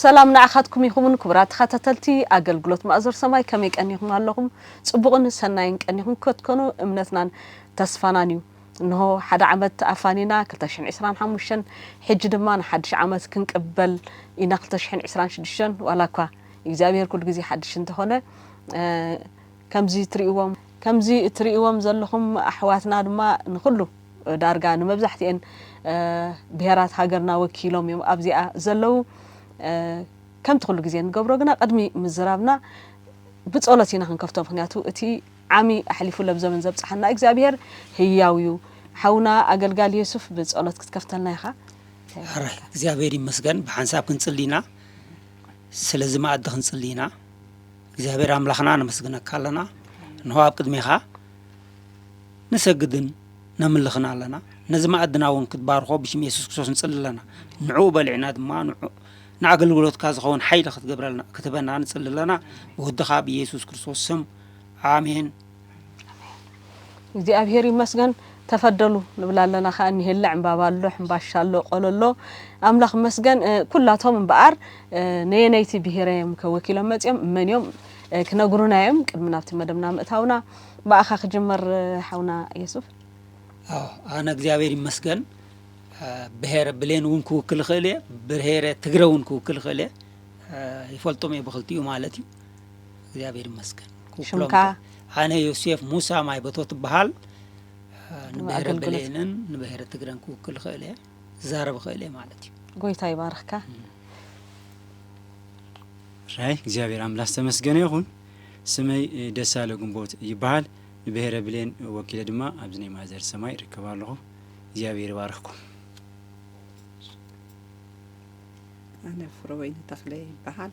ሰላም ንዓኻትኩም ይኹን ክቡራት ተኸታተልቲ ኣገልግሎት ማእዞር ሰማይ ከመይ ቀኒኹም ኣለኹም ጽቡቕን ሰናይን ቀኒኹም ከትኮኑ እምነትናን ተስፋናን እዩ እንሆ ሓደ ዓመት ኣፋኒና ክልተ ሽሕን ዕስራን ሓሙሽተን ሕጂ ድማ ንሓድሽ ዓመት ክንቅበል ኢና ክልተ ሽሕን ዕስራን ሽዱሽተን ዋላኳ እግዚኣብሄር ኩሉ ግዜ ሓድሽ እንተኾነ ከምዚ ትሪእዎም ከምዚ እትሪእዎም ዘለኹም ኣሕዋትና ድማ ንኹሉ ዳርጋ ንመብዛሕቲኤን ብሄራት ሃገርና ወኪሎም እዮም ኣብዚኣ ዘለዉ። ከምቲ ኩሉ ግዜ ንገብሮ ግና ቅድሚ ምዝራብና ብጸሎት ኢና ክንከፍቶ ምክንያቱ እቲ ዓሚ ኣሕሊፉ ለብዘበን ዘብጽሓና እግዚኣብሄር ህያው እዩ። ሓውና ኣገልጋሊ የሱፍ ብጸሎት ክትከፍተልና ኢኻ። ሕራይ እግዚኣብሄር ይመስገን ብሓንሳብ ክንጽሊ ኢና ስለዚ መኣዲ ክንጽሊ ኢና። እግዚኣብሔር ኣምላኽና ነመስግነካ ኣለና እንሆ ኣብ ቅድሜኻ ንሰግድን ነምልኽን ኣለና ነዚ መኣድና እውን ክትባርኾ ብሽም የሱስ ክርስቶስ ንጽሊ ኣለና ንዕኡ በሊዕና ድማ ንዑ ንኣገልግሎትካ ዝኸውን ሓይሊ ክትገብረልና ክትህበና ንጽሊ ኣለና ብወድኻ ብየሱስ ክርስቶስ ስም ኣሜን እግዚኣብሔር ይመስገን ተፈደሉ ንብል ኣለና ከኣ ኒሄለ ዕምባባ ኣሎ ሕምባሻ ኣሎ ቆሎ ኣሎ ኣምላኽ ይመስገን ኩላቶም እምበኣር ነየነይቲ ብሄረ እዮም ከወኪሎም መፅኦም መን እዮም ክነግሩና እዮም ቅድሚ ናብቲ መደብና ምእታውና ብኣኻ ክጅመር ሓውና የሱፍ ኣነ እግዚኣብሔር ይመስገን ብሄረ ብሌን እውን ክውክል ይኽእል እየ ብሄረ ትግረ እውን ክውክል ይኽእል እየ ይፈልጦም እየ ብክልቲኡ ማለት እዩ እግዚኣብሔር ይመስገን ሽምካ ኣነ ዮሴፍ ሙሳ ማይ በቶ ትበሃል ንብሔረ ብሌንን ንብሔረ ትግረን ክውክል ይኽእል እየ ዝዛረብ ይኽእል እየ ማለት እዩ ጎይታ ይባርኽካ ራይ እግዚኣብሔር ኣምላክ ዝተመስገነ ይኹን ስመይ ደሳለ ግንቦት ይበሃል ንብሔረ ብሌን ወኪለ ድማ ኣብዚ ናይ ማዘር ሰማይ ይርከብ ኣለኹ እግዚኣብሔር ይባርኽኩም ኣነ ፍረወይኒ ተኽለ ይበሃል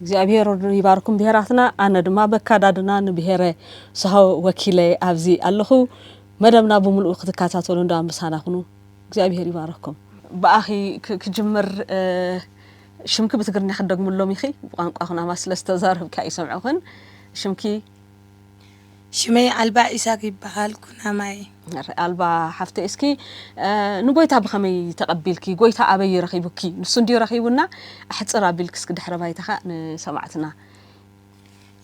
እግዚኣብሔር ይባርኩም ብሄራትና ኣነ ድማ በካዳድና ንብሄረ ሳሆ ወኪለ ኣብዚ ኣለኹ መደብና ብምልኡ ክትካታተሉ እንዳ ምሳና ኩኑ እግዚኣብሔር ይባርኩም። ብኣኺ ክጅምር ሽምኪ ብትግርኛ ክትደግምሎም ኢኺ ብቋንቋ ኩናማ ስለ ዝተዛረብኪ ኣይሰምዑኽን ሽምኪ። ሽመይ ኣልባ ኢሳቅ ይበሃል ኩናማ እየ። ኣልባ ሓፍተይ እስኪ ንጎይታ ብከመይ ተቀቢልኪ ጎይታ ኣበይ እዩ ረኪቡኪ ንሱ እንድዩ ረኪቡና ኣሕጽር ኣቢልኪ እስኪ ድሕረ ባይታካ ንሰማዕትና።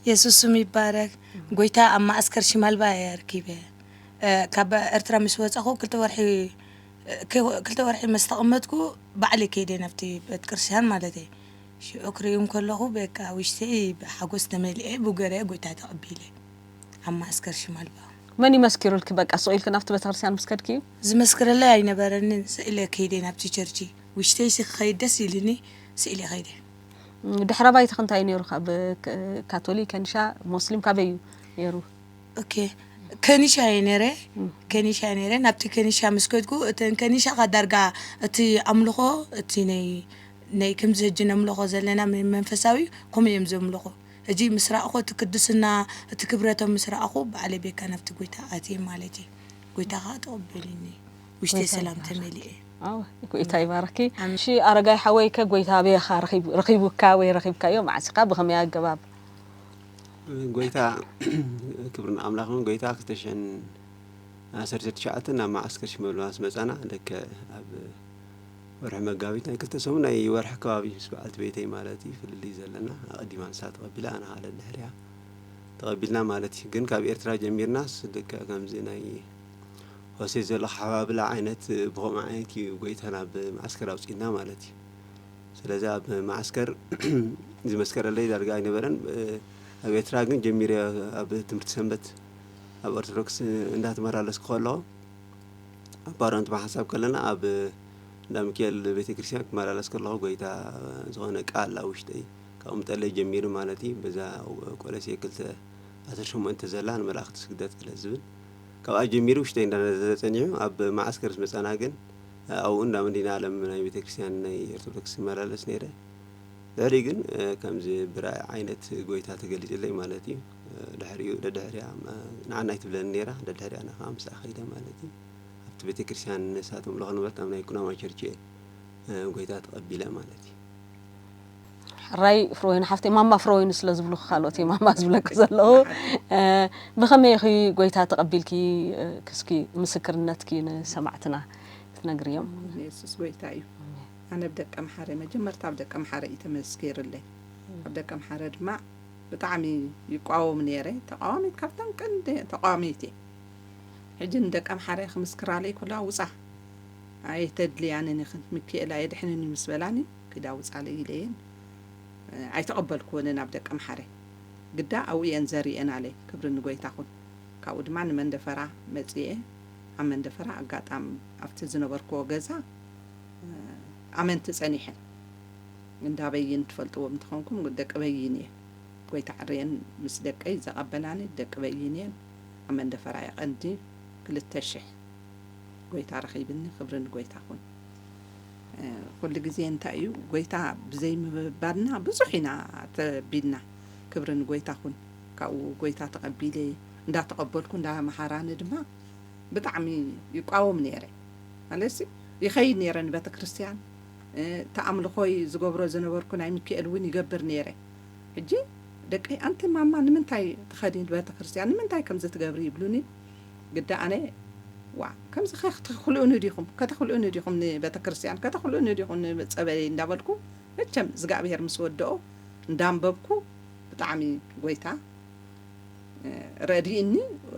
የሱስ ስሙ ይባረክ ጎይታ ኣብ መኣስከር ሽማልባ እየ ኣርኪበ ካብ ኤርትራ ምስ ወጻኩ ክልተ ወርሒ ክልተ ወርሒ ምስ ተቀመጥኩ ባዕለይ ከይደ ናብቲ ቤት ቅርስትያን ማለተይ ሽዑ ክርእዮም ከለኹ በቃ ውሽጠይ ብሓጎስ ተመሊኤ ብገርያ ጎይታ ተቐቢለ ኣብ መዓስከር ሽማልባ። መን እዩ መስኪሩልኪ በቃ ስቕ ኢልኪ ናብቲ ቤተክርስትያን ምስ ከድኪ? ዝመስክረለይ ኣይነበረንን ስቕ ኢለ ከይደ ናብቲ ቸርቺ። ውሽጠይሲ ክኸይድ ደስ ኢሉኒ ስቕ ኢለ ከይደ። ድሕረ ባይታኺ እንታይ እዩ ነይሩ ካብ ካቶሊክ፣ ከኒሻ፣ ሞስሊም ካበይ እዩ ነይሩ? ኦኬ ከኒሻ እየ ነይረ ከኒሻ እየ ነይረ ናብቲ ከኒሻ ምስ ከድኩ እተን ከኒሻ ከኣ ዳርጋ እቲ ኣምልኾ እቲ ናይ ነይ ክምዚ ህጂ ነምሎኮ ዘለና መይ መንፈሳዊ እዩ ኮምኡ እዮም ዘምሎኩ ህጂ ምስ ራኣኩ እቲ ክድስና እቲ ክብረቶም ምስ ራኣኩ ባዕለይ ቤካ ናብቲ ጎይታ ኣትየ ማለት እየ ጎይታ ካኣ ተቀበሊኒ ውሽተይ ሰላም ተመሊኤ። ኣወ ጎይታ ይባርኪ እሺ ኣረጋይ ሓወይ ከ ጎይታ ኣበይ ኢካ ረኪቡካ ወይ ረኪብካዮ መዓስ ኢካ ብከመይ ኣገባብ። ጎይታ ክብሪ ንኣምላኽ ይኹን ጎይታ ክልተ ሽሕን ዓሰርተ ትሽዓተ ናብ መዓስከር ሽመልባ ምስ መጻና ልክዕ ኣብ ወርሒ መጋቢት ናይ ክልተ ሰሙን ናይ ወርሒ ከባቢ ምስ በዓልቲ ቤተይ ማለት እዩ ፍልልይ ዘለና ኣቀዲማ ንሳ ተቀቢላ ኣነ ካኣ ደድሕሪኣ ተቀቢልና ማለት እዩ ግን ካብ ኤርትራ ጀሚርናስ ልክዕ ከምዚ ናይ ሆሴት ዘሎ ኣሓባብላ ዓይነት ብከምኡ ዓይነት እዩ ጎይታ ናብ መዓስከር ኣውጺእና ማለት እዩ ስለዚ ኣብ መዓስከር ዝመስከረለይ ዳርጋ ኣይነበረን ኣብ ኤርትራ ግን ጀሚረ ኣብ ትምህርቲ ሰንበት ኣብ ኦርቶዶክስ እንዳተመላለስኩ ከለኹ ኣብ ባሮንት ብሓንሳብ ከለና ኣብ እንዳ ሚካኤል ቤተ ክርስቲያን ክመላለስ ከለኹ ጎይታ ዝኾነ ቃል ኣብ ውሽጠይ ካብኡ ምጠለይ ጀሚሩ ማለት እዩ በዛ ቆለሴ ክልተ ኣስር ሸሞንተ ዘላ ንመላእኽቲ ስግደት ስለ ዝብል ካብኣ ጀሚሩ ውሽጠይ እንዳነዘዘ ጸኒሑ ኣብ መዓስከር ምስ መጻና ግን ኣብኡ እንዳ መዲና ዓለም ናይ ቤተ ክርስቲያን ናይ ኦርቶዶክስ ይመላለስ ነይረ ድሕሪ ግን ከምዚ ብራእይ ዓይነት ጎይታ ተገሊጽለይ ማለት እዩ ድሕሪኡ ደድሕሪኣ ንዓና ኣይትብለንን ነይራ ደድሕሪኣ ኣነ ከዓ ምስኣ ከይደ ማለት እዩ ኣብቲ ቤተክርስትያን ንሳት ምልኾ ነበርት ኣብ ናይ ኩናማ ቸርች እየ ጎይታ ተቐቢለ ማለት እዩ ሕራይ ፍሮወይን ሓፍተይ ማማ ፍሮወይን ስለ ዝብሉ ካልኦት እየ ማማ ዝብለኪ ዘለዉ ብኸመይ ኢኺ ጎይታ ተቐቢልኪ ክስኪ ምስክርነትኪ ንሰማዕትና ክትነግሪ እዮም የሱስ ጎይታ እዩ ኣነ ብ ደቀምሓረ መጀመርታ ብ ደቀምሓረ እዩ ተመስኪርለይ ኣብ ደቀምሓረ ድማ ብጣዕሚ ይቋወም ነይረ ተቃዋሚት ካብተን ቀንዲ ተቃዋሚት እየ ሕጂ ንደቂ ኣምሓራይ ክምስክራለይ ኩላ ውጻ ኣይተድልያንን ኢኽን ሚኪኤል ኣየድሕንን እዩ ምስ በላኒ ኪዳ ውጻለይ ኢለየን ኣይተቐበልክወንን ኣብ ደቂ ኣምሓራይ ግዳ ኣብኡ እየን ዘሪኤናለይ ክብሪ ንጎይታ ኩን ካብኡ ድማ ንመንደፈራ መጺኤ ኣብ መንደፈራ ኣጋጣም ኣብቲ ዝነበርክዎ ገዛ ኣመንቲ ጸኒሐን እንዳ በይን ትፈልጥዎም ተኾንኩም ደቂ በይን እየ ጎይታ ዕርየን ምስ ደቀይ ዘቀበላኒ ደቂ በይን እየን ኣብ መንደፈራ እየ ቀንዲ ክልተ ሽሕ ጎይታ ረኺብኒ ክብሪ ንጎይታ ኩን ኩሉ ግዜ እንታይ እዩ ጎይታ ብዘይ ምብባልና ብዙሕ ኢና ተቢልና ክብሪ ንጎይታ ኩን ካብኡ ጎይታ ተቀቢለ እንዳ ተቀበልኩ እንዳ መሃራኒ ድማ ብጣዕሚ ይቋወም ነይረ ማለትሲ ይኸይድ ነይረ ንቤተክርስትያን እቲ ኣምልኾይ ዝገብሮ ዝነበርኩ ናይ ምኪኤል እውን ይገብር ነይረ። ሕጂ ደቀይ ኣንቲ ማማ ንምንታይ ትኸዲ ንበተክርስትያን ንምንታይ ከምዚ ትገብሪ ይብሉኒ ግዳ ኣነ ዋእ ከምዚ ከክትክልኡኒ ዲኹም ከተክልኡኒ ዲኹም ንበተክርስትያን ከተክልኡኒ ዲኹም ንጸበለይ እንዳበልኩ መቸም እዝጋኣብሄር ምስ ወደኦ እንዳንበብኩ ብጣዕሚ ጎይታ ረድኢኒ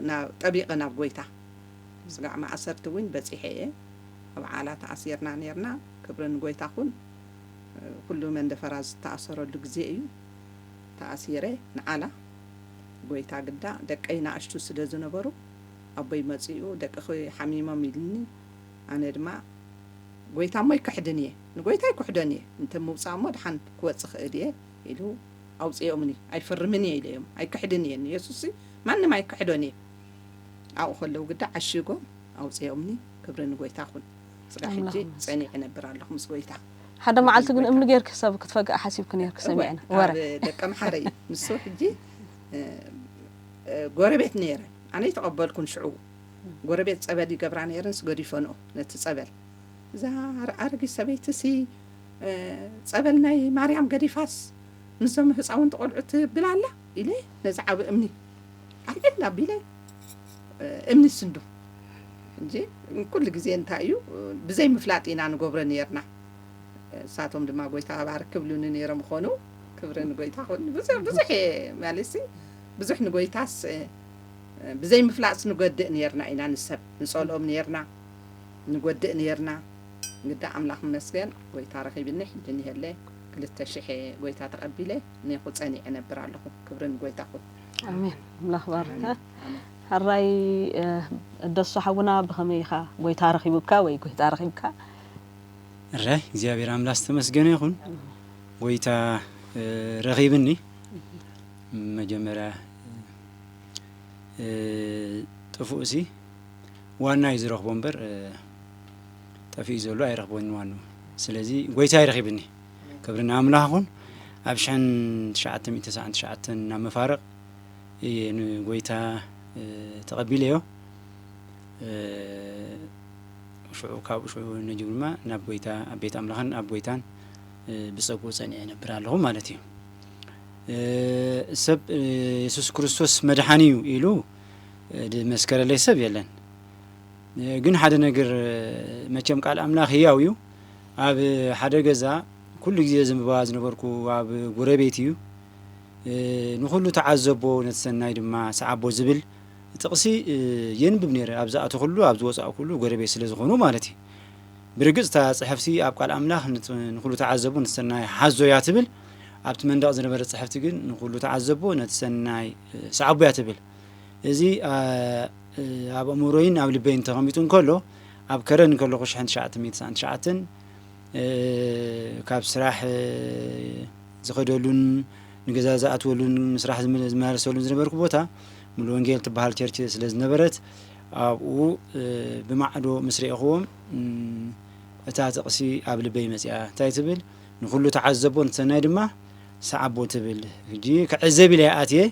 ናብ ጠቢቐ ናብ ጎይታ ምስጋዕ ማእሰርቲ ዊን በጺሐ እየ ኣብ ዓላ ተኣሲርና ኔርና ክብሪ ንጎይታ ኩን ኩሉ መንደፈራ ዝተኣሰረሉ ግዜ እዩ ተኣሲረ ንዓላ ጎይታ ግዳ ደቀይ ናእሽቱ ስለ ዝነበሩ ኣቦይ መጺኡ ደቅኪ ሓሚሞም ኢልኒ ኣነ ድማ ጎይታ እሞ ኣይክሕድን እየ ንጎይታ ኣይኩሕዶን እየ እንተ ምውጻእ እሞ ድሓን ክወጽ እክእል እየ ኢሉ ኣውጺኦምኒ ኣይፍርምን እየ ኢለዮም ኣይክሕድን እየ ንየሱስሲ ማንም ኣይክሕዶን እየ ኣብኡ ከለዉ ግዳ ዓሺጎም ኣውጽኦምኒ ክብሪ ንጎይታ ኩን ጽጋ ሕጂ ጸኒዕ እነብር ኣለኹ ምስ ጎይታ ሓደ መዓልቲ ግን እምኒ ጌርኪ ሰብ ክትፈግእ ሓሲብኪ ኔርኪ ሰሚዕና ወረ ደቂ ኣምሓረ እዩ ንሱ ሕጂ ጎረቤት ነይረን ኣነ ይተቐበልኩን ሽዑ ጎረቤት ጸበል ይገብራ ነይረንስ ገዲፈንኦ ነቲ ጸበል እዛ ኣረጊ ሰበይቲ ሲ ጸበል ናይ ማርያም ገዲፋስ ንዞም ህፃውንቲ ቆልዑት ብላ ኣላ ኢለ ነዚ ዓቢ እምኒ ኣብ ዕድና ኣቢለ እምኒ ስንዱ እንጂ ኩሉ ግዜ እንታይ እዩ ብዘይ ምፍላጥ ኢና ንገብሮ ነርና እሳቶም ድማ ጎይታ ባርክ ክብሉኒ ነይሮም ኾኑ ክብሪ ንጎይታ ኹን ብዙሕ ብዙሕ ማለሲ ብዙሕ ንጎይታስ ብዘይ ምፍላጥስ ንጎድእ ነርና ኢና ንሰብ ንጸልኦም ነርና ንጎድእ ነርና ግዳ ኣምላኽ መስገን ጎይታ ረኺብኒ ሕጂ ንሄለ ክልተ ሽሕ ጎይታ ተቐቢለ ኔኹ ጸኒዐ እነብር ኣለኹ ክብሪ ንጎይታ ይኹን። ኣሜን ኣምላኽ ይባርካ ሐራይ ደሱ ሓውና ብኸመይ ኢኻ ጎይታ ረኺቡካ ወይ ጎይታ ረኺብካ? እረ እግዚኣብሔር ኣምላክ ዝተመስገነ ይኹን ጎይታ ረኺብኒ መጀመርያ ጥፉእ ሲ ዋና እዩ ዝረኽቦ እምበር ጠፊኡ ዘሎ ኣይረኽቦን ዋኑ ስለዚ ጎይታ ይረኺብኒ ክብሪ ንኣምላኽ ይኹን ኣብ ሽሕን ትሽዓተ ሚእቲ ተስዓን ትሽዓተን ናብ መፋርቕ እየ ንጎይታ እ፣ ተቐቢለዮ እ፣ ሽዑ ካብኡ ሽዑ ነጅብ ድማ ናብ ጎይታ ኣብ ቤት ኣምላኽን ኣብ ጎይታን እ፣ ብጸግኡ ጸኒዐ ነብር ኣለኹ ማለት እዩ እ፣ ሰብ እ፣ የሱስ ክርስቶስ መድሓኒ እዩ ኢሉ እ፣ ዝመስከረለይ ሰብ የለን እ፣ ግን ሓደ ነገር እ፣ መቸም ቃል ኣምላኽ ህያው እዩ ኣብ ሓደ ገዛ ኩሉ ግዜ ዘንብባ ዝነበርኩ ኣብ ጎረቤት እዩ። ንኹሉ ተዓዘቦ ነቲ ሰናይ ድማ ሰዓቦ ዝብል ጥቕሲ የንብብ ነይረ ኣብ ዝኣተኹሉ ኣብ ዝወፃእኩሉ ጎረቤት ስለ ዝኾኑ ማለት እዩ። ብርግፅ እታ ፅሕፍቲ ኣብ ቃል ኣምላኽ ንኹሉ ተዓዘቦ ነቲ ሰናይ ሓዞ እያ ትብል ኣብቲ መንደቕ ዝነበረ ፅሕፍቲ ግን ንኹሉ ተዓዘቦ ነቲ ሰናይ ሰዓቦ እያ ትብል። እዚ ኣብ ኣእምሮይን ኣብ ልበይን ተቐሚጡ እንከሎ ኣብ ከረን እንከለኹ ሽሕን ትሽዓተ ሚእቲ ትስዓን ትሽዓተን ካብ ስራሕ ዝኸደሉን ንገዛ ዝኣትወሉን ምስራሕ ዝመላለሰሉን ዝነበርኩ ቦታ ሙሉ ወንጌል ትበሃል ቸርች ስለ ዝነበረት ኣብኡ ብማዕዶ ምስ ርኤኽዎም እታ ጥቕሲ ኣብ ልበይ መፅኣ እንታይ ትብል ንኹሉ ተዓዘቦ ንሰናይ ድማ ሰዓቦ ትብል ሕጂ ክዕዘብ ኢለ ኣትየ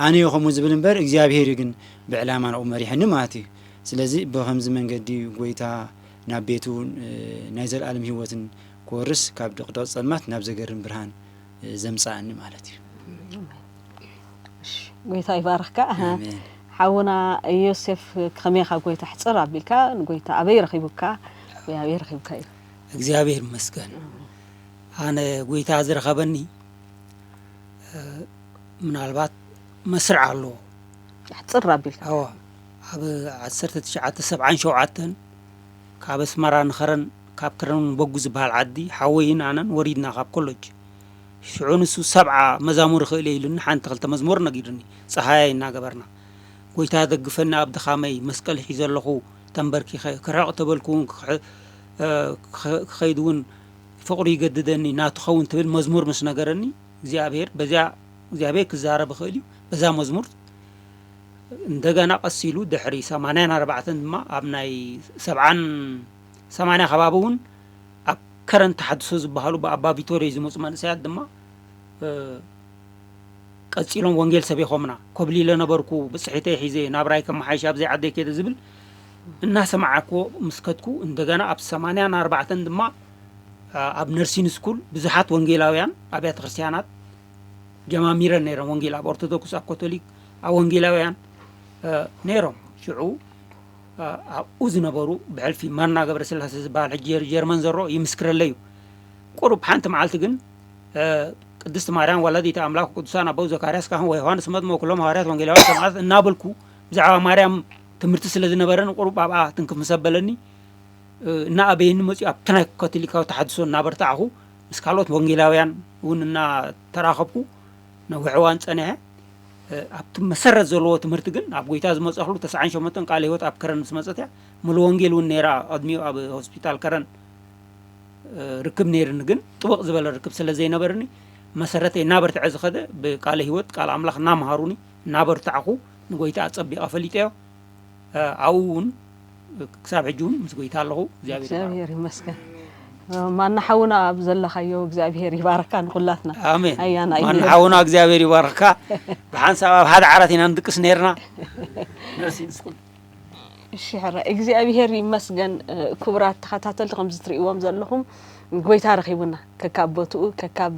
ኣነዮ ከምኡ ዝብል እምበር እግዚኣብሄር እዩ ግን ብዕላማ ናብኡ መሪሐኒ ማለት እዩ ስለዚ ብከምዚ መንገዲ እዩ ጎይታ ናብ ቤቱ ናይ ዘለኣለም ህይወትን ክወርስ ካብ ድቕድቕ ጸልማት ናብ ዘገርም ብርሃን ዘምጽኣኒ ማለት እዩ ጎይታ ይባርኽካ ሓውና ዮሴፍ ከመይ ካብ ጎይታ ሕፅር ኣቢልካ ንጎይታ ኣበይ ረኺቡካ ወይ ኣበይ ረኺብካ እዩ እግዚኣብሔር ይመስገን ኣነ ጎይታ ዝረኸበኒ ምናልባት መስርዕ ኣለዎ ኣሕፅር ኣቢልካ ኣዎ ኣብ ዓሰርተ ትሽዓተ ሰብዓን ሸውዓተን ካብ ኣስመራ ንኸረን ካብ ከረን በጉ ዝበሃል ዓዲ ሓወይን ኣነን ወሪድና ካብ ኮሎጅ ሽዑ ንሱ ሰብዓ መዛሙር ይኽእል እየ ኢሉኒ ሓንቲ ክልተ መዝሙር ነጊሩኒ ፀሃያይ እናገበርና ጎይታ ደግፈኒ ኣብ ድኻመይ መስቀል ሒዘ ኣለኹ ተንበርኪኸ ክርሕቕ ተበልኩ እውን ክኸይድ እውን ፍቕሩ ይገድደኒ እና ትኸውን ትብል መዝሙር ምስ ነገረኒ እግዚኣብሔር በዚያ እግዚኣብሔር ክዛረብ ይኽእል እዩ በዛ መዝሙር እንደገና ቀስ ኢሉ ድሕሪ ሰማንያን ኣርባዕተን ድማ ኣብ ናይ ሰብዓን ሰማንያ ከባቢ እውን ኣብ ከረን ተሓድሶ ዝበሃሉ ብኣባ ቪቶሪዮ ዝመፁ መንእሰያት ድማ ቀፂሎም ወንጌል ሰቢኾምና ኮብሊለ ነበርኩ ብፅሒተይ ሒዘ ናብራይ ከመሓይሽ ኣብዘይ ዓደይ ከይደ ዝብል እናሰማዕክዎ ምስ ከድኩ፣ እንደገና ኣብ ሰማንያን ኣርባዕተን ድማ ኣብ ነርሲን ስኩል ብዙሓት ወንጌላውያን ኣብያተ ክርስቲያናት ጀማሚረን ነይረን። ወንጌል ኣብ ኦርቶዶክስ፣ ኣብ ኮቶሊክ፣ ኣብ ወንጌላውያን ነይሮም። ሽዑ ኣብኡ ዝነበሩ ብሕልፊ ማና ገብረስላሴ ዝበሃል ሕጂ ጀርመን ዘሎ ይምስክረለይ እዩ። ቁሩብ ሓንቲ መዓልቲ ግን ቅድስት ማርያም ወላዲተ ኣምላክ ቅዱሳን ኣበው ዘካርያስ ካህን ወዮሃንስ መጥምቅ ኩሎም ሃዋርያት ወንጌላውያን ሰማዕታት እናበልኩ ብዛዕባ ማርያም ትምህርቲ ስለ ዝነበረኒ ቁሩብ ኣብኣ ትንክፍ ምስ ኣበለኒ እናኣበየኒ መጺኡ ኣብቲ ናይ ካቶሊካዊ ተሓድሶ እናበርታዕኹ ምስ ካልኦት ወንጌላውያን እውን እናተራኸብኩ ነዊሕ እዋን ጸኒሐ። ኣብቲ መሰረት ዘለዎ ትምህርቲ ግን ኣብ ጎይታ ዝመጸኽሉ ተስዓን ሸሞንተን ቃለ ህይወት ኣብ ከረን ምስ መጸት እያ ሙሉ ወንጌል እውን ነይራ ቅድሚኡ ኣብ ሆስፒታል ከረን ርክብ ነይርኒ ግን ጥብቕ ዝበለ ርክብ ስለ ዘይነበርኒ መሰረተይ እናበርትዐ ዝኸደ ብቃለ ህይወት ቃል ኣምላኽ እናምሃሩኒ እናበርታዕኹ ንጎይታ ኣጸቢቀ ፈሊጠዮ ኣብኡ ውን ክሳብ ሕጂ ውን ምስ ጎይታ ኣለኹ እግዚኣብሔር ይባርኩም። እግዚኣብሔር ይመስገን ማና ሓውና ኣብ ዘለኻዮ እግዚኣብሔር ይባርካ ንኹላትና ኣሜን ኣያና እዩ ማና ነይሩ። ሓውና እግዚኣብሔር ይባርክካ ብሓንሳብ ኣብ ሓደ ዓራት ኢና ንድቅስ ነርና ነርሲ ንስኹም እሺ ሕራይ እግዚኣብሔር ይመስገን እ፣ ክቡራት ተኸታተልቲ ከምዚ ትርእይዎም ዘለኹም ጎይታ ረኺቡና ከካብ ቦትኡ ከካብ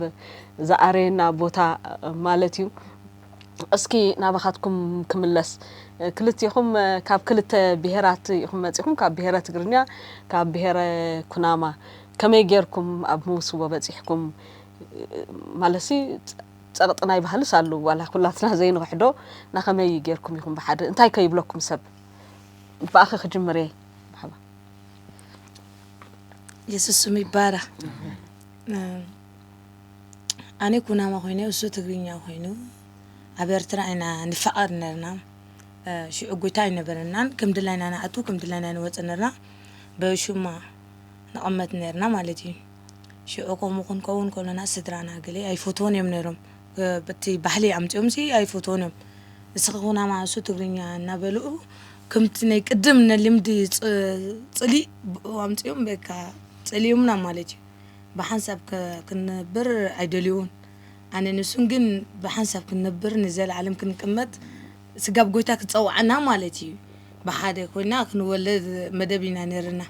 ዝኣረየና ቦታ እ፣ ማለት እዩ እስኪ ናባኻትኩም ክምለስ ክልቴኹም ካብ ክልተ ብሄራት ኢኹም መጺኹም ካብ ብሄረ ትግርኛ ካብ ብሄረ ኩናማ ከመይ ጌርኩም ኣብ ምውስቦ በጺሕኩም ማለሲ ጸቕጢ ናይ ባህልስ ኣሉ ዋላ ኩላትና ዘይንውሕዶ ናኸመይ ጌርኩም ኢኹም ብሓደ እንታይ ከይብለኩም ሰብ ብኣኺ ክጅምር እየ የሱስ ስሙ ይባረኽ ኣነ ኩናማ ኮይነ እሱ ትግርኛ ኮይኑ ኣብ ኤርትራ ኢና ንፋቀር ነርና ሽዑ ጎይታ ኣይነበረናን ከም ድላይና ንኣቱ ከም ድላይና ንወጽእ ነርና በሹማ ንቐመት ነርና ማለት እዩ ሽዑ ከምኡ ክንከውን ከሎና ስድራና ገለ ኣይፈትዎን እዮም ነሮም በቲ ባህሊ ኣምጺኦም ሲ ኣይፈትዎን እዮም እስኺ ኩናማ እሱ ትግርኛ እናበልኡ ከምቲ ናይ ቅድም ንልምዲ ጽሊእ ብኡ ኣምጺኦም በቃ ጸሊኦምና ማለት እዩ ብሓንሳብ ክንነብር ኣይደልዩን ኣነ ንሱን ግን ብሓንሳብ ክንነብር ንዘለዓለም ክንቅመጥ ስጋብ ጎይታ ክጸውዓና ማለት እዩ ብሓደ ኮይና ክንወለድ መደብ ኢና ነርና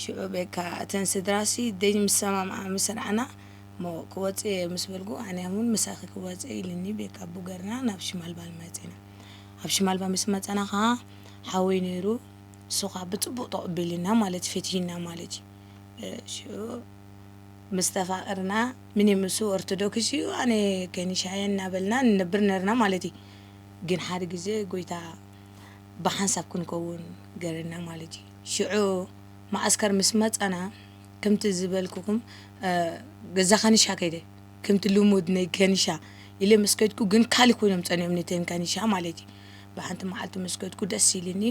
ሽዑ በቃ እተን ስድራሲ ደይ ምስ ሰማምዓ ምስ ረኣና እሞ ክወጽእ እየ ምስ በልኩ ኣነ እውን ምሳኺ ክወጽእ ኢልኒ ቤካ ኣቡ ገርና ናብ ሽማልባል መጺና ኣብ ሽማልባ ምስ መጸና ከዓ ሓወይ ነይሩ ንሱ ከዓ ብፅቡቅ ተቐቢልና ማለት ፈትሂና ማለት እዩ ሽዑ ምስ ተፋቐርና ምኒ ምሱ ኦርቶዶክስ እዩ ኣነ ከኒሻ እየ እናበልና ንነብር ነርና ማለት እዩ ግን ሓደ ግዜ ጎይታ ብሓንሳብ ክንከውን ገረና ማለት እዩ ሽዑ ማእስከር ምስ መጻና ከምቲ ዝበልኩኹም ገዛ ከኒሻ ከይደ ከምቲ ልሙድ ናይ ከኒሻ ኢለ ምስ ከድኩ ግን ካልእ ኮይኖም ጸኒኦም ንተን ከኒሻ ማለት እዩ ብሓንቲ መዓልቲ ምስ ከድኩ ደስ ኢልኒ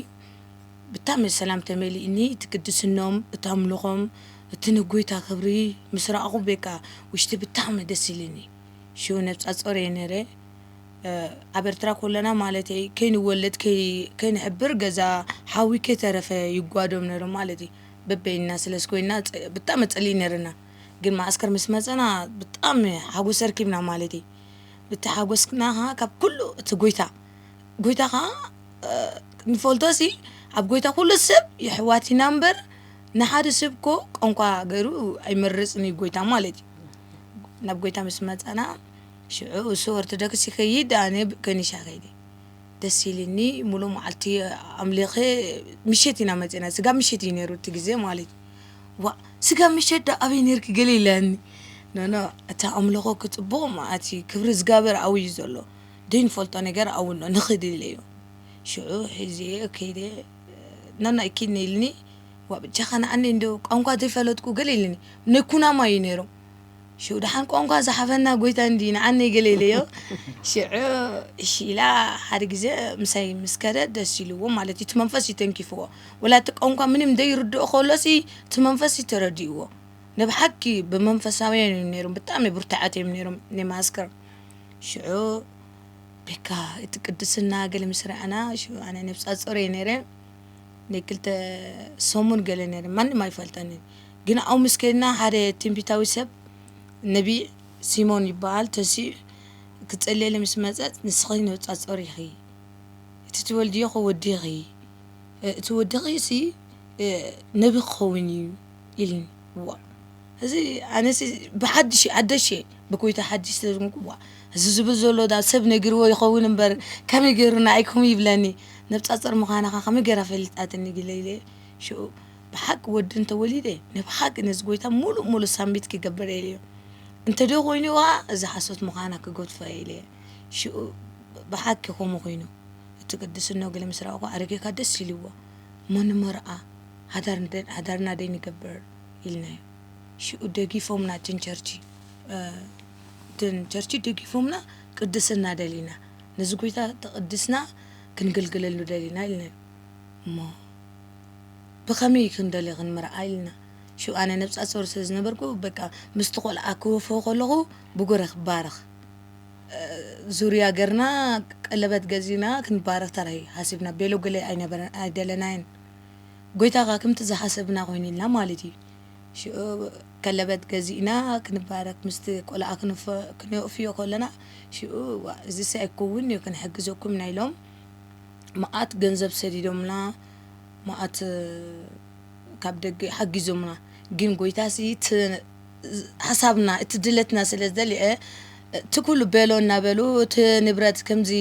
ብታሚ ሰላም ተመሊእኒ እቲ ቅድስኖም እቲ ኣምልኾም እቲ ንጎይታ ክብሪ ምስ ራኣኹ ቤቃ ውሽጢ ብታሚ ደስ ኢሊኒ ሽው ነብጻጾር እየ ነረ ኣብ ኤርትራ ኮለና ማለተይ ከይንወለድ ከይ ከይንሕብር ገዛ ሓዊ ከይተረፈ ይጓዶም ነሩ ማለተይ በበይንና ስለስ ኮይና ብታሚ ጸሊኢ ነርና ግን ማኣስከር ምስ መጸና ብታሚ ሓጎስ ኣርኪብና ማለተይ እቲ ሓጎስና ከኣ ካብ ኩሉ እቲ ጎይታ ጎይታ ከኣ ንፈልጦሲ ኣብ ጎይታ ኩሉ ሰብ የሕዋት ኢና እምበር ንሓደ ሰብ እኮ ቋንቋ ገይሩ ኣይመርጽን እዩ ጎይታ ማለት እዩ ናብ ጎይታ ምስ መጻና ሽዑ እሱ ኦርቶዶክስ ይኸይድ ኣነ ከኒሻ ከይደ ደስ ኢልኒ ሙሉእ መዓልቲ ኣምሊኸ ምሸት ኢና መጺና ስጋ ምሸት እዩ ነይሩ እቲ ግዜ ማለት እዩ ዋ ስጋ ምሸት ዶ ኣበይ ነርኪ ገለ ኢላኒ ኖኖ እታ ኣምልኾ ክጽቡቕ መዓት እዩ ክብሪ እግዚኣብሔር ኣብዩ ዘሎ ደይንፈልጦ ነገር ኣብኡ ኣሎ ንኽድ ኢለዮ ሽዑ ሒዘዮ ከይደ ናናይ ኪድኒ ኢልኒ ዋእ ብጃኻ ንኣኒ እንዶ ቋንቋ ዘይፈለጥኩ ገለ ኢልኒ ናይ ኩናማ እዩ ነይሮም ሽዑ ደሓን ቋንቋ ዝሓፈና ጎይታ እንዲ ንኣኒ ገለ ኢለዮ ሽዑ እሺ ኢላ ሓደ ግዜ ምሳይ ምስ ከደ ደስ ኢልዎ ማለት እዩ እቲ መንፈስ እዩ ተንኪፍዎ ወላ እቲ ቋንቋ ምንም ዘይርድኦ ከሎሲ እቲ መንፈስ እዩ ተረዲእዎ ንብሓቂ ብመንፈሳውያን እዮም ነይሮም ብጣዕሚ ብርቱዓት እዮም ነይሮም ናይ ማስከር ሽዑ በቃ እቲ ቅድስና ገለ ምስ ረኣና ሽዑ ኣነ ነብሰ ጾር እየ ነይረ ናይ ክልተ ሰሙን ገለ ነይረ ማንም ኣይፈልጠኒ ግን ኣብኡ ምስ ከድና ሓደ ትንቢታዊ ሰብ ነቢ ሲሞን ይበሃል ተሲኡ ክጸልየለ ምስ መጸት ንስኺ ነብጻ ጾር ኢኺ እቲ ትወልድዮ ወዲኺ እቲ ወዲኺ ሲ ነቢ ክኸውን እዩ ኢልኒ ዋ እዚ ኣነሲ ብሓድሽ ኣደሽ ብኮይታ ሓድሽ ተዝንኩዋ እዚ ዝብል ዘሎ ዳ ሰብ ነጊርዎ ይኸውን እምበር ከመይ ገይሩ ንኣይኩም ይብለኒ ነብፃፅር ምዃንኻ ከመይ ገይራ ፈሊጣትኒ ግለ ኢለ ሽኡ ብሓቂ ወዲ እንተወሊደ ንብሓቂ ነዚ ጎይታ ሙሉእ ሙሉእ ሳምቢት ክገብር ኢለ እየ እንተደ ኮይኑ ዋ እዚ ሓሶት ምዃና ክገድፎ ኢለ እየ ሽኡ ብሓቂ ከምኡ ኮይኑ እቲ ቅድስኖ ግለ ምስ ረኣኹ ኣረጌካ ደስ ኢልዎ እሞ ንመርኣ ሓዳርና ደይ ንገብር ኢልናዮ ሽኡ ደጊፎምና እትን ቸርቺ እትን ቸርቺ ደጊፎምና ቅድስና ደሊና ነዚ ጎይታ ተቕድስና ክንግልግለሉ ደሊና ኢልናዮ እሞ ብኸመይ ክንደሊ ክንምርዓ ኢልና ሽኡ ኣነ ነብጻ ጾር ስለ ዝነበርኩ በቃ ምስቲ ቆልዓ ክወፍሆ ከለኹ ብጉረ ክባረኽ ዙርያ ገርና ቀለበት ገዚና ክንባረኽ ተራይ ሃሲብና ቤሎ ገለ ኣይነበረ ኣይደለናየን ጎይታ ከኣ ከምቲ ዝሓሰብና ኮይኑልና ማለት እዩ ሽኡ ከለበት ገዚእና ክንባረክ ምስቲ ቆልዓ ክነእፍዮ ከለና ሽኡ እዋእ እዚስ ኣይኮውን እዩ ክንሕግዘኩም ኢና ኢሎም መኣት ገንዘብ ሰዲዶምና መኣት ካብ ደገ ሓጊዞምና ግን ጎይታሲ ሐሳብና እቲ ድለትና ስለ ዝደልየ እቲ ኩሉ በሎ እናበሉ እቲ ንብረት ከምዚ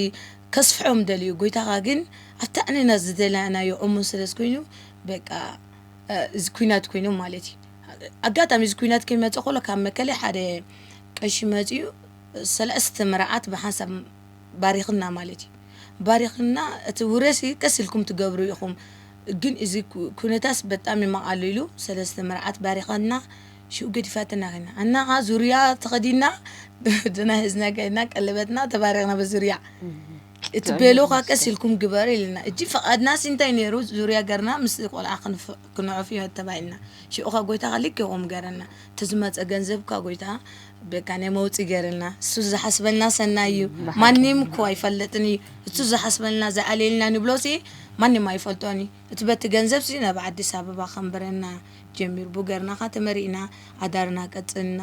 ከስፍሖም ደልዩ ጎይታኻ ግን ኣብቲ ኣንና ዝደላናዮ እሙን ስለ ዝኮይኑ በቃ እዚ ኩናት ኮይኖም ማለት እዩ ኣጋጣሚ እዚ ኩናት ከይመፀ ኮሎ ካብ መከለ ሓደ ቀሺ መፅዩ ሰለስተ መርዓት ብሓንሳብ ባሪኽና ማለት እዩ ባሪኽና እቲ ውረሲ ቀስ ኢልኩም ትገብሩ ኢኹም ግን እዚ ኩነታስ በጣም ይማቃሉ ኢሉ ሰለስተ መርዓት ባሪኸና ሽኡ ገዲፋትና ከና እና ኸ ዙርያ ተኸዲና ድና ህዝና ከና ቀለበትና ተባሪኽና በዙርያ እቲ ቤሎ ካ ቀስ ኢልኩም ግበር ኢልና እጂ ፈቓድናስ እንታይ ነይሩ ዙርያ ገርና ምስ ቆልዓ ክንዕፍ እዮ ተባሂልና ሽዑ ካ ጎይታ ካ ልክ ይኹም ገረና ተዝመፀ ገንዘብ ካ ጎይታ በቃ ናይ መውፂ ገርልና እሱ ዝሓስበልና ሰናይ እዩ ማንም እኮ ኣይፈለጥን እዩ እሱ ዝሓስበልና ዝኣልየልና ንብሎ ሲ ማንም ኣይፈልጦን እዩ እቲ በቲ ገንዘብ ሲ ናብ ኣዲስ ኣበባ ከንብረና ጀሚሩ ብገርናኻ ተመሪእና ኣዳርና ቀፅልና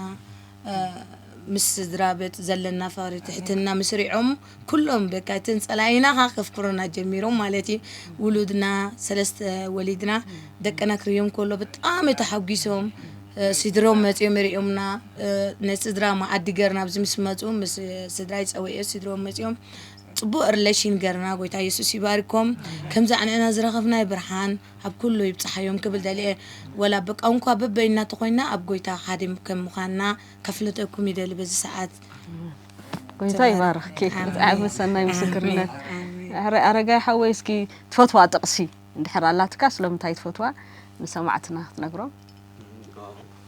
ምስ ስድራ ቤት ዘለና ፍቅሪ ትሕትና ምስሪዖም ኩሎም በቃ እተን ጸላኢና ከኣ ከፍክሩና ጀሚሮም ማለት እዩ። ውሉድና ሰለስተ ወሊድና ደቅና ክርእዮም ከሎ ብጣዕሚ ተሓጒሶም ስድርኦም መጺኦም ርእዮምና ንስድራ መኣዲ ገርና ኣብዚ ምስ መጹ ምስ ስድራይ ጸዊዐ ስድርኦም መጺኦም ጽቡቅ ርለሽን ገርና ጎይታ የሱስ ይባርኮም ከምዚ ኣንዕና ዝረኸብናዮ ብርሃን ኣብ ኩሉ ይብጽሓዮም ክብል ደልየ ወላ ብቋንቋ በበይንና ተኾይንና ኣብ ጎይታ ሓደ ከም ምዃንና ከፍልጠኩም ይደሊ በዚ ሰዓት ጎይታ ይባርኽኪ ብጣዕሚ ሰናይ ምስክርነት። ኣረ ኣረጋይ ሓወይ እስኪ ትፈትዋ ጥቕሲ እንድሕር ኣላትካ ስለምንታይ ትፈትዋ ንሰማዕትና ክትነግሮም።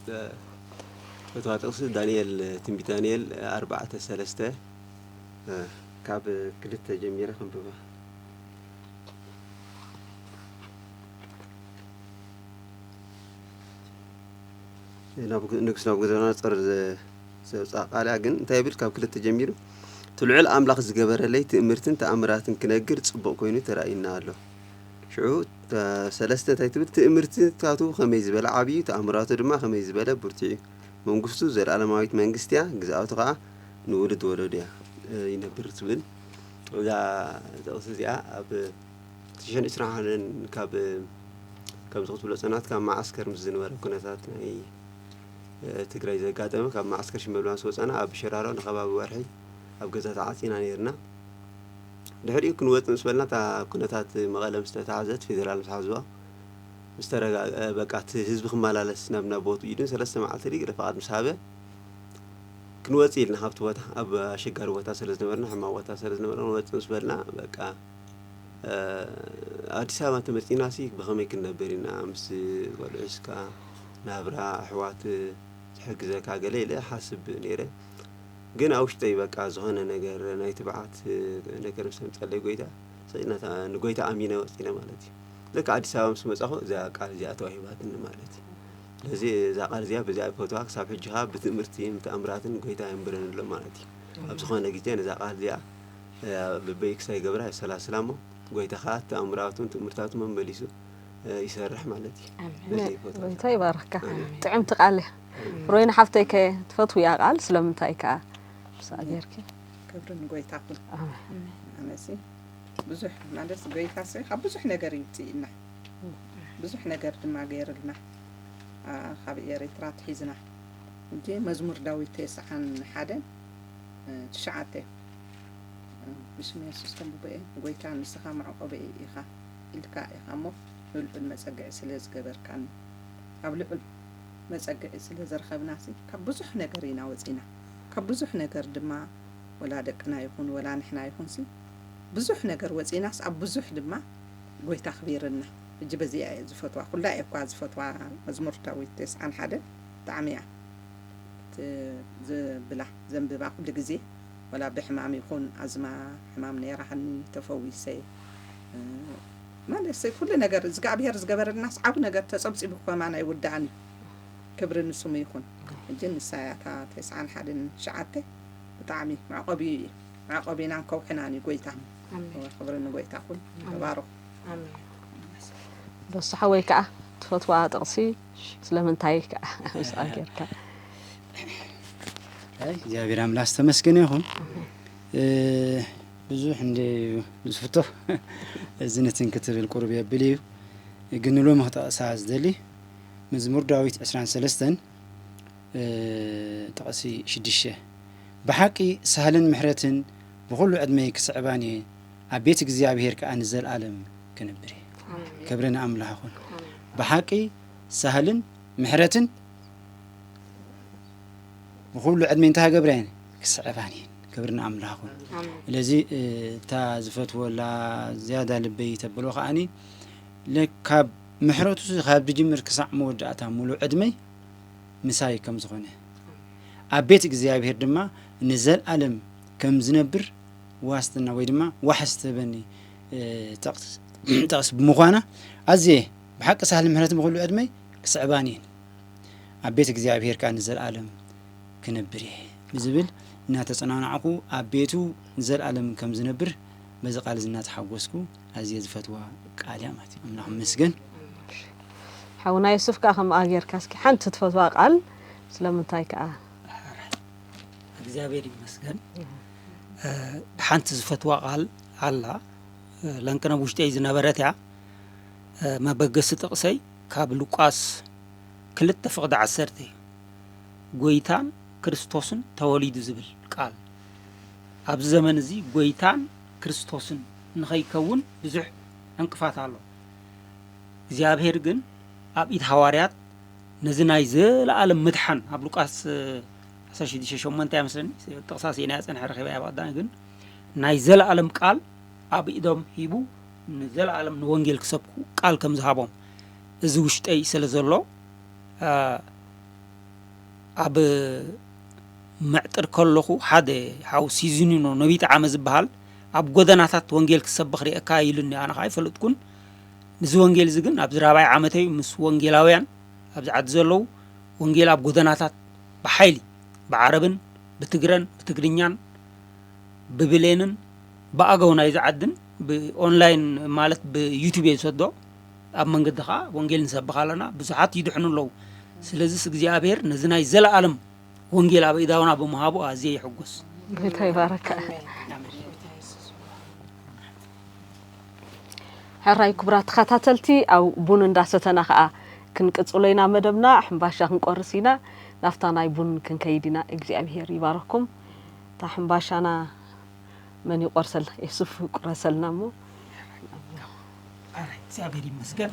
ዝፈትዋ ጥቕሲ ዳንኤል ትንቢት ዳንኤል ኣርባዕተ ሰለስተ ካብ ክልተ ጀሚረ ክንብባ ንጉስ ናቡከደነፆር ዘብጽኣቃልያ ግን እንታይ ይብል ካብ ክልተ ጀሚሩ እቲ ልዑል ኣምላኽ ዝገበረለይ ትእምርትን ተኣምራትን ክነግር ጽቡቕ ኮይኑ ተራእዩና ኣሎ ሽዑ ሰለስተ እንታይ ትብል ትእምርትታቱ ከመይ ዝበለ ዓብዩ ተኣምራቱ ድማ ከመይ ዝበለ ብርቱዕዩ መንግስቱ ዘለኣለማዊት መንግስቲያ ግዝኣቱ ከኣ ንውሉድ ወለዱያ ይነብር ትብል እዛ ጥቕሲ እዚኣ ኣብ ትሽን ዕስራን ሓደን ካብ ከምዚ ክትብሎ ጸናት ካብ መዓስከር ምስ ዝነበረ ኩነታት ናይ ትግራይ ዘጋጠመ ካብ መዓስከር ሽመልባ ምስ ወፃና ኣብ ሸራሮ ንከባቢ ወርሒ ኣብ ገዛ ተዓፂና ነይርና ድሕሪኡ ክንወፅ ምስ በልና እታ ኩነታት መቐለ ምስ ተታሕዘት ፌዴራል ምስ ሓዝዋ ምስ ተረጋግአ በቃ እቲ ህዝቢ ክመላለስ ናብ ናብ ቦትኡ ኢሉ ሰለስተ መዓልቲ ድዩ ፍቓድ ምስ ሃበ ክንወፅ ኢልና ካብቲ ቦታ ኣብ ኣሸጋሪ ቦታ ስለ ዝነበርና ሕማቕ ቦታ ስለ ዝነበረ ክንወፅ ምስ በልና በቃ ኣዲስ ኣበባ ተመፂና ሲ ብኸመይ ክንነብር ኢና ምስ ቆልዑ ስካ ናብራ ኣሕዋት ዝሕግዘካ ገለ ኢለ ሓስብ ነይረ ግን ኣውሽጠይ በቃ ዝኾነ ነገር ናይ ትብዓት ነገር ምስ ኣምፀለይ ጎይታ ሰይናታ ንጎይታ ኣሚነ ወፂነ ማለት እዩ ልክ ኣዲስ ኣበባ ምስ መፃኹ እዛ ቃል እዚኣ ተዋሂባትኒ ማለት እዩ ስለዚ እዛ ቃል እዚኣ ብዚኣ ይፈትዋ ክሳብ ሕጂ ከዓ ብትእምርቲ ብተኣምራትን ጎይታ የንብረን ኣሎ ማለት እዩ ኣብ ዝኾነ ግዜ ነዛ ቃል እዚኣ ልበይ ክሳይ ገብራ የሰላስላ እሞ ጎይታ ከዓ ተኣምራቱን ትእምርታቱ መመሊሱ ይሰርሕ ማለት እዩ ኣሜን በዚ ቦታ እዚ። ጎይታ ይባርኽካ ጥዕምቲ ቃል እያ ሮይና ሓፍተይ ከ ትፈትውያ ቃል ስለምንታይ ከኣ ምስኣ ጌርኪ ክብሪ ንጎይታ ኩን ኣሜን ኣነሲ ብዙሕ ማለት ጎይታሲ ካብ ብዙሕ ነገር እዩ ውፅኢና ብዙሕ ነገር ድማ ገይርልና አ፣ ካብ ኤሪትራ ትሒዝና እንጂ መዝሙር ዳዊት ተስዓን ሓደ እ፣ ትሽዓተ እ፣ ብስም የሱስ ከምብበኤ ጎይታ ንስኻ መዕቆበኤ ኢኻ ኢልካ ኢኻ እሞ ንልዑል መጸግዒ ስለ ዝገበርካኒ። ኣብ ልዑል መጸግዒ ስለ ዝረኸብናሲ ካብ ብዙሕ ነገር ኢና ወጺእና። ካብ ብዙሕ ነገር ድማ ወላ ደቅና ይኹን ወላ ንሕና ይኹንሲ ብዙሕ ነገር ወጺእናስ ኣብ ብዙሕ ድማ ጎይታ ኣኽቢርና። ሕጂ በዚኣ እየ ዝፈትዋ ኩላ እየ እኳ ዝፈትዋ መዝሙር ዳዊት ተስዓን ሓደን ብጣዕሚ እያ ዝብላ ዘንብባ ኩሉ ግዜ ወላ ብሕማም ይኹን ኣዝማ ሕማም ነይራኒ ተፈዊሰ ማለት ኩሉ ነገር እዝግኣብሄር ዝገበረልናስ ዓቢ ነገር ተጸብጺቡ ከማን ኣይውዳእን እዩ። ክብሪ ንስሙ ይኹን። ሕጂ ንሳ እያ እታ ተስዓን ሓደን ትሽዓተ ብጣዕሚ መዕቆቢ እዩ መዕቆቢናን ከውሕናን እዩ ጎይታ። ክብሪ ንጎይታ ኩን ተባረኹ። በሱ ሓወይ ከዓ ትፈትዋ ጥቕሲ ስለምንታይ ከዓ ምስኣ ጌርካ እግዚኣብሔር ኣምላክ ዝተመስገነ ይኹን። ብዙሕ እንድዩ ዝፍቶ እዚ ንትን ክትብል ቁሩብ የብል እዩ ግን ንሎሚ ክጠቕሳ ዝደሊ መዝሙር ዳዊት ዕስራን ሰለስተን ጥቕሲ ሽድሽተ ብሓቂ ሳህልን ምሕረትን ብኹሉ ዕድመይ ክስዕባን እየ ኣብ ቤት እግዚኣብሄር ከኣ ንዘልኣለም ክንብር እየ ክብሪ ንኣምላኽ ይኹን ብሓቂ ሳህልን ምሕረትን ንኩሉ ዕድሜ እንታይ ገብረን ክስዕባን እየን ክብሪ ንኣምላኽ ውን ስለዚ እታ ዝፈትወላ ዝያዳ ልበይ ተብሎ ከዓኒ ካብ ምሕረቱ ካብ ዝጅምር ክሳዕ መወዳእታ ሙሉእ ዕድመይ ምሳይ ከም ዝኾነ ኣብ ቤት እግዚኣብሄር ድማ ንዘልኣለም ከም ዝነብር ዋስትና ወይ ድማ ዋሕስ ትህበኒ ጠቕስ ብምዃና ኣዝየ ብሓቂ ሳህል ምሕረት ብኩሉ ዕድመይ ክስዕባን እየን ኣብ ቤት እግዚኣብሄር ከኣ ንዘልኣለም ክነብር እየ ብዝብል እናተጸናናዕኩ ኣብ ቤቱ ንዘልኣለም ከም ዝነብር በዚ ቃል እዚ እናተሓጎስኩ ኣዝየ ዝፈትዋ ቃል እያ ማለት እዩ ኣምላኽ ይመስገን ሓውና ዮሱፍ ከኣ ከምኣ ጌርካ እስኪ ሓንቲ ትፈትዋ ቃል ስለምንታይ ከኣ እግዚኣብሔር ይመስገን ሓንቲ ዝፈትዋ ቃል ኣላ ለንቅነ ውሽጢይ ዝነበረት እያ መበገሲ ጥቕሰይ ካብ ሉቃስ ክልተ ፍቕዲ ዓሰርተ እዩ ጎይታን ክርስቶስን ተወሊዱ ዝብል ቃል። ኣብዚ ዘመን እዚ ጎይታን ክርስቶስን ንኸይከውን ብዙሕ ዕንቅፋት ኣሎ። እግዚኣብሔር ግን ኣብ ኢድ ሃዋርያት ነዚ ናይ ዘለኣለም ምድሓን ኣብ ሉቃስ ዓሰርተ ሽዱሽተ ሸሞንተ እያ መስለኒ ጥቕሳ ስኢናያ ጸንሐ ረኺበያ ብቐዳሚ ግን ናይ ዘለኣለም ቃል ኣብ ኢዶም ሂቡ ንዘለኣለም ንወንጌል ክሰብኩ ቃል ከም ዝሃቦም እዚ ውሽጠይ ስለ ዘሎ ኣብ መዕጥር ከለኹ ሓደ ሓው ሲዝኒኖ ነቢይ ጠዓመ ዝበሃል ኣብ ጎደናታት ወንጌል ክሰብኽ ርኤካ ኢሉኒ ኣነ ከዓ ኣይፈለጥኩን ንዚ ወንጌል እዚ ግን ኣብዚ ራብዓይ ዓመተይ ምስ ወንጌላውያን ኣብዚ ዓዲ ዘለዉ ወንጌል ኣብ ጎደናታት ብሓይሊ ብዓረብን ብትግረን ብትግርኛን ብብሌንን ብኣገው ናይዚ ዓድን ብኦንላይን ማለት ብዩቱብ እየ ዝሰዶ ኣብ መንገዲ ከኣ ወንጌል ንሰብኽ ኣለና ብዙሓት ይድሕኑ ኣለዉ ስለዝስ እግዚኣብሔር ነዚ ናይ ዘለኣለም ወንጌል ኣብ ኢዳውና ብምሃቡ ኣዝየ ይሕጎስ ጌታ ይባረካ ሕራይ ክቡራት ተኸታተልቲ ኣብ ቡን እንዳሰተና ከዓ ክንቅፅሎ ኢና መደብና ሕምባሻ ክንቆርስ ኢና ናፍታ ናይ ቡን ክንከይድ ኢና እግዚኣብሄር ይባረኩም እታ ሕምባሻና መን ይቆርሰልና የሱፍ ቁረሰልና እሞ እግዚኣብሔር ይመስገን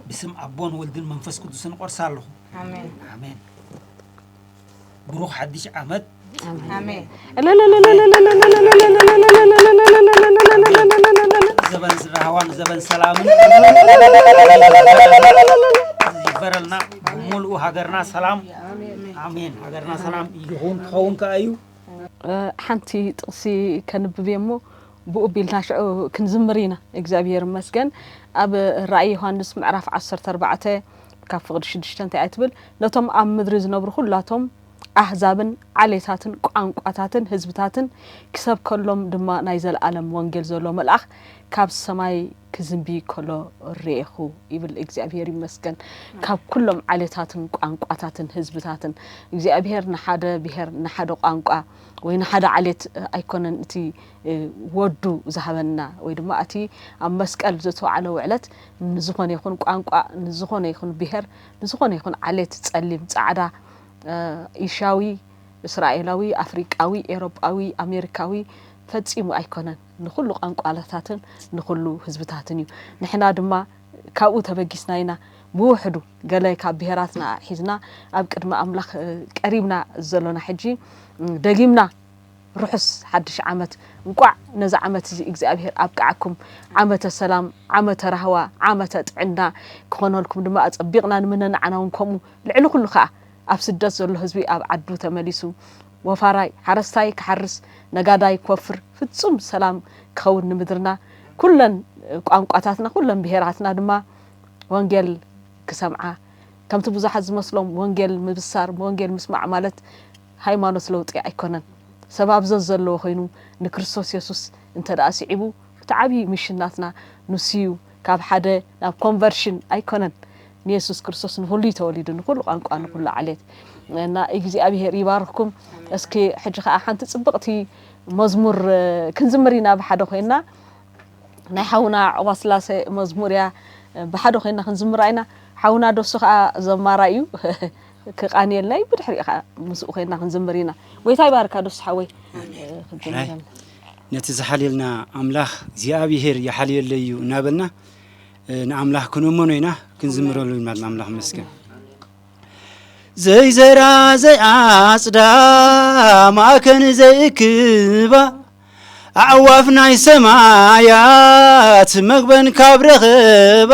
ብስም ኣቦን ወልድን መንፈስ ቅዱስን ቆርሳ ኣለኹ ኣሜን ብሩኽ ሓድሽ ዓመት ዘበን ዝራህዋን ዘበን ሰላምን ይበረልና ሙሉኡ ሃገርና ሰላም ኣሜን ሃገርና ሰላም ይኹን ክኸውን ከኣ እዩ ሓንቲ ጥቅሲ ከንብብ እየ እሞ ብኡ ቢልና ሽዑ ክንዝምር ኢና እግዚኣብሔር መስገን ኣብ ራእይ ዮሃንስ ምዕራፍ ዓሰርተ ኣርባዕተ ካብ ፍቅዲ ሽዱሽተ እንታይ እያ ትብል ነቶም ኣብ ምድሪ ዝነብሩ ኩላቶም ኣህዛብን ዓሌታትን ቋንቋታትን ህዝብታትን ክሰብከሎም ድማ ናይ ዘለኣለም ወንጌል ዘሎ መልኣኽ ካብ ሰማይ ክዝንቢ ከሎ ርኤኹ ይብል እግዚኣብሄር ይመስገን ካብ ኩሎም ዓሌታትን ቋንቋታትን ህዝብታትን እግዚኣብሄር ንሓደ ብሄር ንሓደ ቋንቋ ወይ ንሓደ ዓሌት ኣይኮነን እቲ ወዱ ዝሃበና ወይ ድማ እቲ ኣብ መስቀል ዝተውዓለ ውዕለት ንዝኾነ ይኹን ቋንቋ ንዝኾነ ይኹን ብሄር ንዝኾነ ይኹን ዓሌት ጸሊም ጻዕዳ ኢሻዊ እስራኤላዊ ኣፍሪቃዊ ኤሮጳዊ ኣሜሪካዊ ፈጺሙ ኣይኮነን ንኹሉ ቛንቋታትን ንኹሉ ህዝብታትን እዩ። ንሕና ድማ ካብኡ ተበጊስና ኢና ብውሕዱ ገለ ካብ ብሄራትና ኣዕሒዝና ኣብ ቅድሚ ኣምላኽ ቀሪብና ዘሎና። ሕጂ ደጊምና ርሑስ ሓድሽ ዓመት እንቋዕ ነዚ ዓመት እዚ እግዚኣብሄር ኣብቅዓኩም ዓመተ ሰላም ዓመተ ራህዋ ዓመተ ጥዕና ክኾነልኩም ድማ ኣጸቢቕና ንምነ ንዓና እውን ከምኡ ልዕሊ ኩሉ ከኣ ኣብ ስደት ዘሎ ህዝቢ ኣብ ዓዱ ተመሊሱ ወፋራይ ሓረስታይ ክሓርስ ነጋዳይ ክወፍር ፍጹም ሰላም ክኸውን ንምድርና ኩለን ቋንቋታትና ኩለን ብሄራትና ድማ ወንጌል ክሰምዓ ከምቲ ብዙሓት ዝመስሎም ወንጌል ምብሳር ወንጌል ምስማዕ ማለት ሃይማኖት ለውጢ ኣይኮነን ሰብ ኣብ ዘዘለዎ ኮይኑ ንክርስቶስ የሱስ እንተደኣ ስዒቡ እቲ ዓብዪ ሚሽን ናትና ንሱዩ ካብ ሓደ ናብ ኮንቨርሽን ኣይኮነን ንየሱስ ክርስቶስ ንኹሉ እዩ ተወሊዱ ንኹሉ ቋንቋ ንኹሉ ዓሌት እና እግዚኣብሄር ይባርኽኩም እስኪ ሕጂ ከዓ ሓንቲ ፅብቕቲ መዝሙር ክንዝምር ኢና ብሓደ ኮይና ናይ ሓውና ዕቑባ ስላሴ መዝሙር እያ ብሓደ ኮይና ክንዝምራ ኢና ሓውና ደሱ ከዓ ዘማራ እዩ ክቃንየልና እዩ ብድሕሪኡ ከዓ ምስኡ ኮይና ክንዝምር ኢና ጎይታ ይባርካ ደሱ ሓወይ ክንዝምር ነቲ ዝሓልየልና ኣምላኽ እግዚኣብሄር ይሓልየለይ እዩ እናበልና ንኣምላኽ ክነመኖ ኢና ክንዝምረሉ ኢና ንኣምላኽ መስገን ዘይዘራ ዘይዓጽዳ ማእከን ዘይእክባ ኣዕዋፍ ናይ ሰማያት መግበን ካብ ረኽባ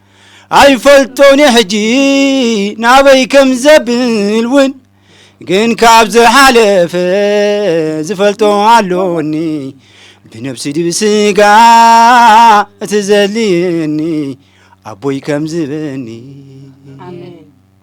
ኣይፈልጦን እየ ሕጂ ናበይ ከም ዘብል እውን ግን ካብ ዝሓለፈ ዝፈልጦ ኣሎኒ ብነብሲ ድብ ስጋ እቲ ዘድልየኒ ኣቦይ ከም ዝበኒ ኣሜን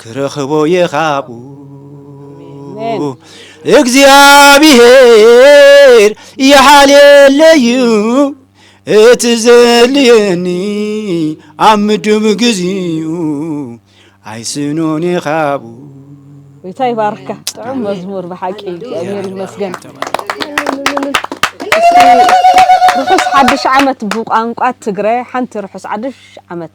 ክረኽቦየ ካብኡ እግዚኣብሄር ይሓልየለዩ እቲ ዘድልየኒ ኣብ ምዱብ ግዚኡ ኣይስኖን የኻቡ ጌታ ይባርካ ጥዑም መዝሙር ብሓቂ እግዚኣብሔር ይመስገን ርሑስ ሓድሽ ዓመት ብቋንቋ ትግረ ሓንቲ ርሑስ ሓድሽ ዓመት